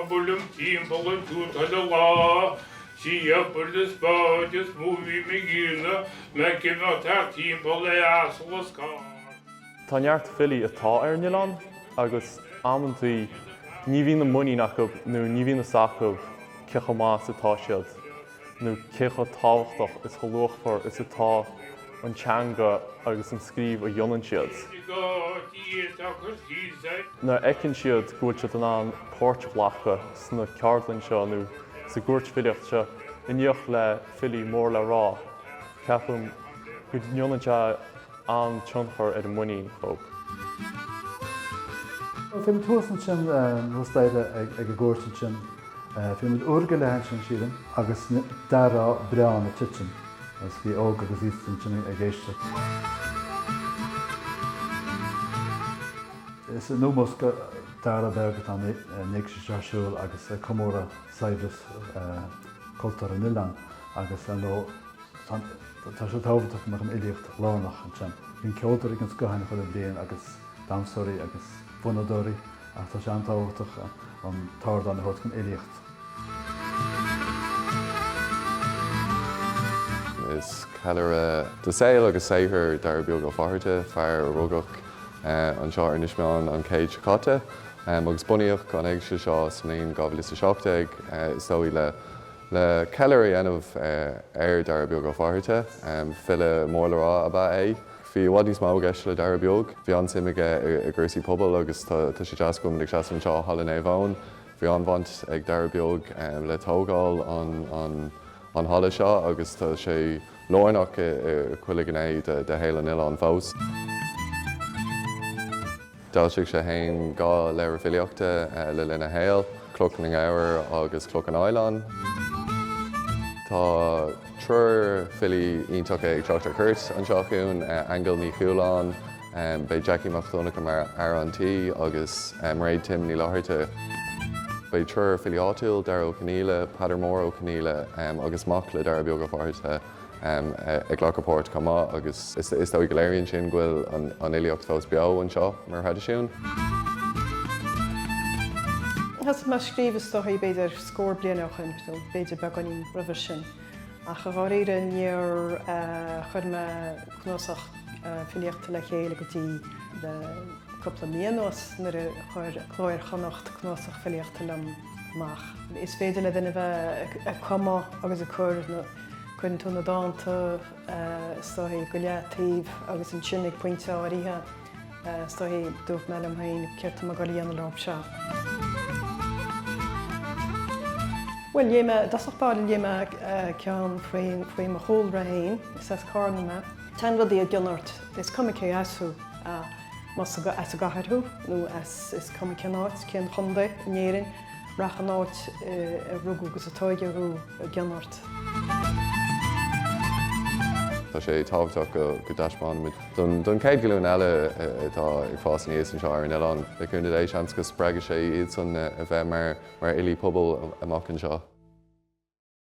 Buailim timpeall an tuaith chuile lá, siabfar na spáid is mó a bhím ag iarraidh ag imeacht thart timpeall le asal is carr. Tá neart filí atá ar an oileán agus amantaí ní bhíonn an muinín acu nó ní bhíonn a fhios acu cé chomh maith is atá siad. nó cé chomh tábhachtach is chomh luachmhar is atá an teanga agus an scríobh a dhéanann siad. Nuair a fheiceann siad go bhfuil siad in ann páirt a ghlacadh sna ceardlainn seo nó sa gcúirt filíochta seo in éineacht le filí mór le rá, ceapaim go ndéanann sé. an-tionchar ar an muinín acu. Bhí muid thuas ansin nó staire ag an gcúirt ansin. Bhí muid uair go leith ansin sílim agus d'aireofá biorán ag titim agus bhí óg agus aosta ansin ag éisteacht. Is in ómós do Dara Beag atá an éigse seo ar siúl agus comóradh saibhreas cultúir an oileáin agus ar ndóigh Tá sé tábhachtach go mbeadh an fhilíocht lárnach ansin. Bíonn ceoltóirí den scoth ann chuile bhliain agus damhsóirí agus fonnadóirí ach tá sé an-tábhachtach an t-ardán a thabhairt don fhilíocht. Is ceiliúradh de shaol agus saothar Dara Beag Ó Fátharta, fear a rugadh anseo ar Inis Meáin an chéad seo caite agus bunaíodh an éigse seo sa mbliain 2017 is dóigh le Le ceiliúradh a dhéanamh ar Dhara Beag Ó Fátharta, file mór le rá ab ea é. Bhí i bhfad níos mó i gceist le Dara Beag. Bhí an-suim aige i gcúrsaí pobail agus tá sé deas go bhfuil muid ag seasamh anseo i Halla Naomh Eoin. Bhí an-bhaint ag Dara Beag le tógáil an halla seo agus tá sé lárnach i chuile ghné de shaol an oileáin fós. D'fhoilsigh sé fhéin dhá leabhar filíochta le linn a shaoil, Cloch na nGabhar agus Cloch an Fhaoileáin. Tá triúr filí iontacha ag teacht ar cuairt anseo chugainn, Aingeal Ní Chualáin, beidh Jackie Mac Donncha mar fhear an tí agus Mairéad Tim Ní Fhlatharta. Beidh triúr filí áitiúil, Dara Ó Conaola, Peadar Mór Ó Conghaile agus mac le Dara Beag Ó Fátharta. ag glacadh páirt chomh maith agus is dóigh go léiríonn sin go bhfuil an fhilíocht fós beo anseo mar thraidisiún. Thosaigh mé ag scríobh is dóigh b'fhéidir scór bliain ó shin, nó b'fhéidir beagáinín roimhe sin, ach i ndáiríre níor chuir mé cnuasach filíochta le chéile go dtí le cúpla mí anuas nuair a chuir Cló Iar-Chonnacht cnuasach filíochta liom amach. Is féidir le duine a bheith ag cumadh agus ag cur na. Cuireann tú na dánta is dóichí go leataobh agus ansin ag pointe áirithe is dóichí dúirt mé liom féin céard tá mé ag dul a dhéanamh leo seo. Bhuel léigh mé, i dtosach báire léigh mé ceann faoi mo chúlra féin is as Carna mé. Téann rudaí i gcion ort, is cuma cé as thú, más as an gcathair thú nó is cuma cén áit, cén chondae in Éirinn. Rachaidh an áit a rugadh agus a tóigeadh thú i gcion ort. Tá sé tábhachtach go dtaispeánfaimid don chéad ghlúin eile atá ag fás aníos anseo ar an oileán, le cúnamh Dé, seans go spreagfaidh sé iadsan a bheith mar fhilí pobail amach anseo.